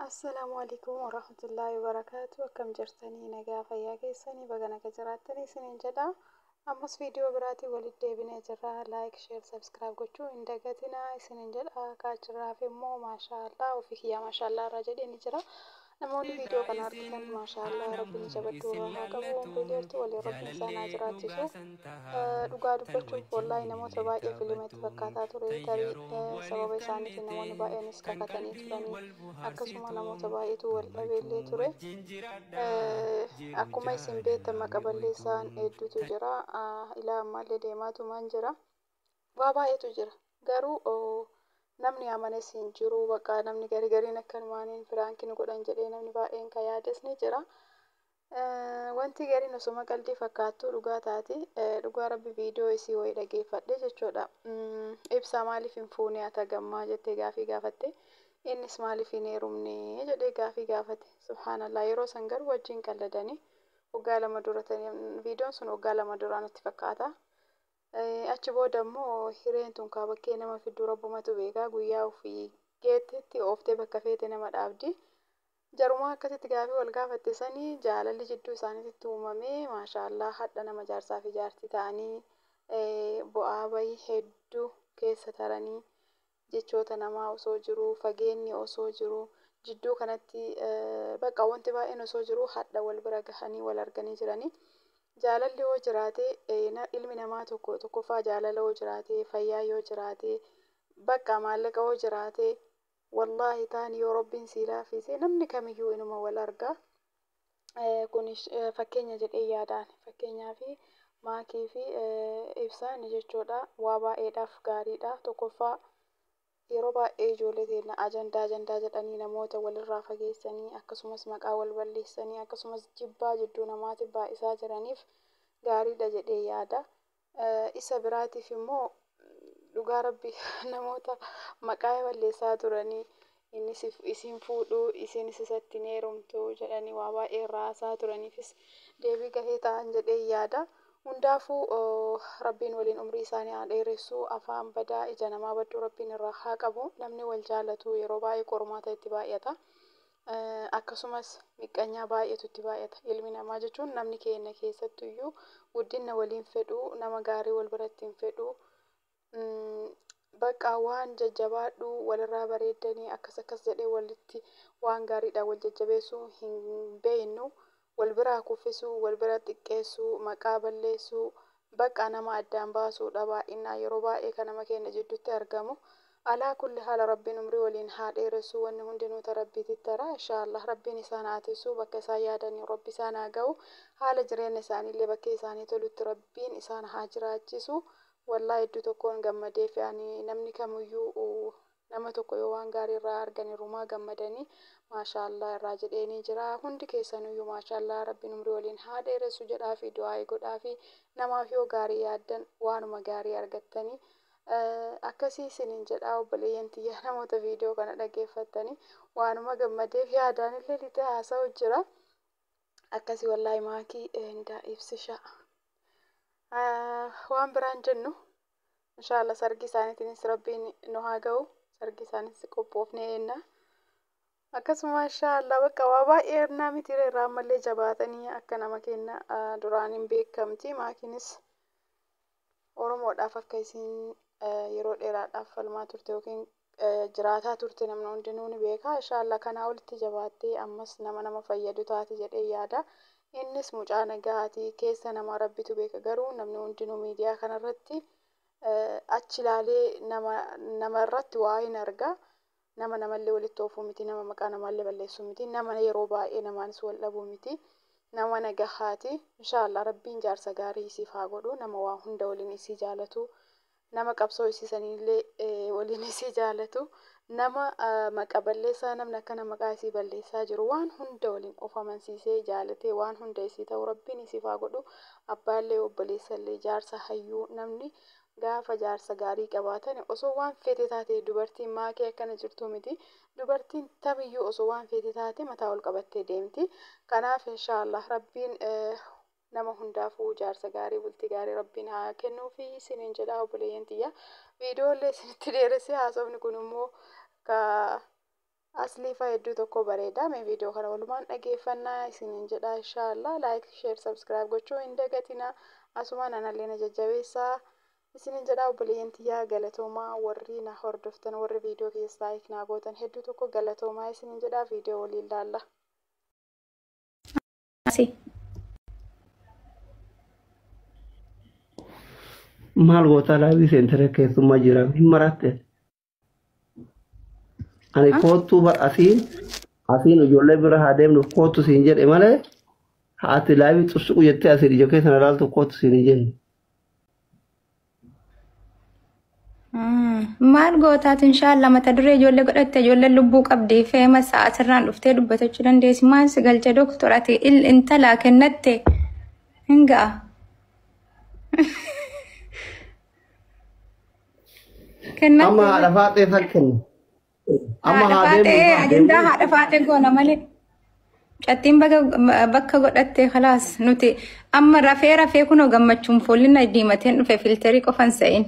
Assalaamu alaikum warahmatullaahi wabarakaatu akkam jirtanii nagaa fayyaa keessanii baga naga jiraattanii isiniin jedha ammas viidiyoo biraatiin walitti deebinee jirra laayik sheer sabskiraayib gochuu hin dagatinaa isiniin jedha kaachirraaf immoo maashaallaa ofii kiyyaa maashaallaa irraa jedheen jira namoonni viidiyoo kana argitan maashaallaa rabbiin jabadhuu irraa haa qabu umrii dheertuu waliin rabbiin isaan haa jiraachisu Dhugaa dubbachuuf wallaahi namoota baay'ee filima itti fakkaataa ture. Tarii sababa isaaniitiin namoonni baay'eenis kakatanii turanii. Akkasuma namoota baay'eetu wal dhabee illee ture. Akkuma isin beektan maqa balleessaan hedduutu jira. Ilaa ammaallee deemaatumaan jira. Waa baay'eetu jira. Garuu namni amanes hin jiru. Bakka namni garigariin akkanumaan piraanki nu godhan jedhee namni baay'een kan yaades ni jira. Wantii gariin osoma qaldii fakkaattuu dhugaa taati dhugaa rabbi viidiyoo isii wayii dhageeffadhe jechuudha ibsaa maaliif hin fuunee atagammaa jettee gaafii gaafatte innis maaliif hin heerumnee jedhee gaafii gaafate subhaanallaa yeroo san garuu wajjiin qalladanii waggaa lama dura viidiyoon sun waggaa lama duraa natti fakkaata achi booda immoo hireen tun kaa bakkee nama fidduu rabbumatu beekaa guyyaa ofii geettetti ooftee bakka feete nama dhaabdi Jarumaa akkasitti gaafii wal gaafatte sani jaalalli jidduu isaaniititti uumame maashaallah hadha nama jaarsaa fi jaartii ta'anii bu'aa bayi heddu keessa taranii jechoota namaa osoo jiruu fageenni osoo jiruu jidduu kanatti bakka wanti baay'een osoo jiruu hadha wal bira gahanii wal arganii jiranii jaalalli yoo jiraate ilmi namaa tokko tokkoffaa jaalala yoo jiraate fayyaa yoo jiraate bakka maallaqa yoo jiraate Wallaahi taani yoo Rabbiin sii laafiise namni kamiyyuu inuma wal arga. Kun fakkeenya jedhee yaada ani. Fakkeenyaaf maakii fi ibsaan jechuudha waa baay'eedhaaf gaariidha. Tokkoffaa yeroo baay'ee ijoollee teenna ajandaa ajandaa jedhanii namoota walirraa fageessanii akkasumas maqaa wal balleessanii akkasumas jibbaa jidduu namaatiif baay'isaa jiraniif gaariidha jedhee yaada. Isa biraatiif immoo dhugaa rabbii namoota maqaa balleessaa turanii inni si hin fuudhu isiinis isatti hin heerumtu jedhanii waa baay'ee irraa haasa'aa turaniifis deebii gahee ta'an jedheen yaada. Hundaafuu rabbiin waliin umrii isaanii haa dheeressu afaan badaa ija namaa badduu rabbiin irraa haa qabu namni wal jaalatu yeroo baay'ee qormaata itti baay'ata. Akkasumas, miqqanyaa baay'eetu itti baay'ata. Ilmi namaa jechuun namni keenya keessattu iyyuu guddinna wal hin fedhu, nama gaarii wal biratti hin fedhu. Baqqa waan jajjabaadhu, wal irraa bareeddanii akkas akkas jedhee walitti waan gaariidhaan wal jajjabeessuu hin beeknu. wal biraa kuffisuu, wal bira xiqqeessuu, maqaa balleessuu, baqqaa nama addaan baasuu dha baay'innaan yeroo baay'ee ka nama keenna jiddutti argamu. Alaa kulli haal Rabbiin umrii waliin haa dheeressuu wanni hundinuu ta Rabbiititti tara inshaa Allaah Rabbiin isaan haa tissuu bakka isaan yaadaniin Rabbi isaan haa gahu haala jireenna isaaniillee bakkee isaanii tolutti Rabbiin isaan haa jiraachisu wallahi hedduu tokkoon gammadeefi ani namni kamuyyuu Nama tokko yoo waan gaarii irraa argan irrumaa gammadanii maashaa allaah irraa jedheenii jira hundi keessanuuyyu maashaa allaah rabbiin umrii waliin haa dheeressu jedhaafii du'aa'ii godhaafii namaaf yoo gaarii yaaddan waanuma gaarii argattanii akkasii isiniin jedhaa obboleeyyan tiyya namoota viidiyoo kana dhageeffattanii waanuma gammadeef yaadaan illee lixee haasa'u jira akkasii wallaahi maakii indaa ibsishaa waan biraan jennu Inshaallah sargii isaaniitiinis rabbiin nu haa ga'u. Sargii isaaniitis qophoofnee eenna. Akkasuma inshaallah bakka waa baay'ee ennaa miti irraa ammallee jabaatanii akka nama kenna duraaniin beekamti. Maakiinis Oromoodhaaf akka isiin yeroo dheeraadhaaf falmaa turte yookiin jiraataa turte namni hundinuu ni beeka inshaallah kanaa olitti jabaattee ammas nama nama fayyadu taati jedhee yaada innis mucaa nagaati keessa nama rabbitu beeka garuu namni hundinuu miidiyaa kanarratti achi ilaalee nama nama irratti waa hin arga nama namallee walitti oofuu miti nama maqaa namaallee balleessuu miti nama yeroo baay'ee namaanis wal dhabuu miti nama nagahaati inshaallah rabbiin jaarsa gaarii isiif haa godhu nama waa hunda waliin isii jaalatu Nama qabsoo isii saniillee waliin isii jaalatu, nama maqa balleessaa namni akkana maqaa isii balleessaa jiru waan hunda waliin of amansiisee jaalatee waan hunda isii ta'u Rabbiin isiif haa godhu. Abbaallee, obboleessallee, jaarsa, hayyuu namni gaafa jaarsa gaarii qabaatani osoo waan feete taate dubartiin maakee akkana jirtuu miti. Dubartiin tamiyyuu osoo waan feete taate mataa ol qabattee deemti. Kanaaf inshaa Allaah Rabbiin nama hundaafuu jaarsa gaarii bultii gaarii rabbiin haa kennuufi isiniin jedha obboleeyyan tiyya viidiyoo illee isinitti dheeressee haasofni kun immoo ka asliifa hedduu tokko bareeda mee viidiyoo kana walumaan dhageeffannaa isiniin jedha inshaallah laayik sheer sabskiraayib gochuu hin dagatina asumaan anallee na jajjabeessaa isiniin jedha obboleeyyan tiyya galatoomaa warri na hordoftan warri viidiyoo kiyya laayik naa gootan hedduu tokko galatoomaa isiniin jedha viidiyoo waliin laalla. Asi. Maal gootaa laayivii seentara keessummaa jira hin maraatte. Ani Ah. koottuu bar asiin asiin ijoollee bira haa deemnuuf koottu siin jedhe malee haati laayivii xusuqu jettee asiin ija keessa na laaltu koottu siin hin jenne. Maal gootaatu inshaallah mata duree ijoollee godhatte ijoollee lubbuu qabdi feema sa'a asirraan dhuftee dubbatachuu dandeessi maal si galcha doktor ati il intala kennatte hin ga'a. Amma haadha faaxee san kenna. Amma Haadha haa deemnu faatee haa ajandaa deemnu. haadha faatee goona malee. Cattiin baga bakka godhattee kalaas nuti amma rafee rafee kunoo gammachuun foolli na diimateen dhufe filterii qofan sa'in.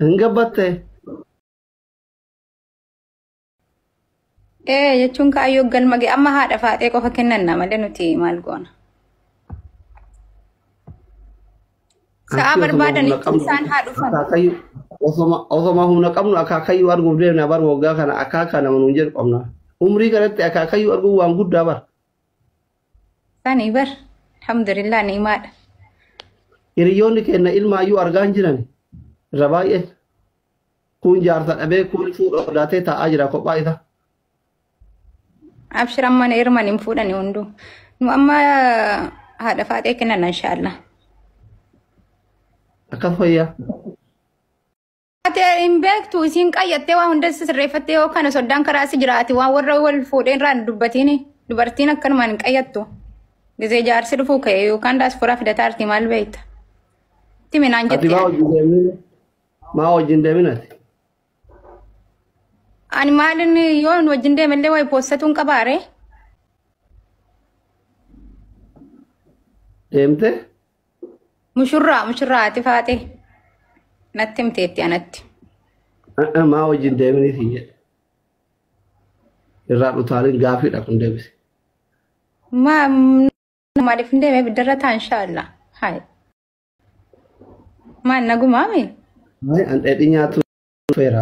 Hin gabbatte. Ee jechuun kaayyoo galma ga'e amma haadha faaxee qofa kennanna malee nuti maal goona. Sa'aa Achi osoma barbaadan humna itti qabnu isaan haa dhufan. akaakayyuu osoma osoma humna qabnu akaakayyuu arguuf deemna bar waggaa kana akaakaa nama nuun jedhu qabna. Umrii kanatti akaakayyuu arguun waan guddaa bar. Sani bar. Alhamdulillah ni'imaadha. Hiriyoonni keenya ilmaayyuu argaa hin jiran irra baay'een. Kuun jaarsa dhabee kuun fuudha sodaatee taa'aa jira kophaa isaa. Abshir amma na hirman hin fuudhani hunduu. Nu amma haadha faaxee kennan inshaallah. Akkas fayyaa. Ati hin beektu isiin qayyattee waa hunda sirreeffattee yoo kana soddaan karaa si jiraati waan warra wal fuudheen irraa hin dubbatiin dubartiin akkanumaan hin qayyattu. Gizee jaarsi dhufuu ka'e yookaan daasfuraa fidataa artii maal beekta? Timi naan Ati jettee. baa hojii deemnee. Maa wajjin deemin ati? Ani maalin yoo hin wajjin deemallee wayi poostatuun qabaare. Deemte? Mushurraa mushurraa ati faate. Natti himteetti anatti. A'a, Maa wajjin deeminii siin jedhe. Irraa dhutaalin gaafiidha kun deebise. Ma maaliif hin deemee biddarra taa inshaallah. Hayi. Maal nagumaa mee? Ay, an dheedhi nyaatu feera.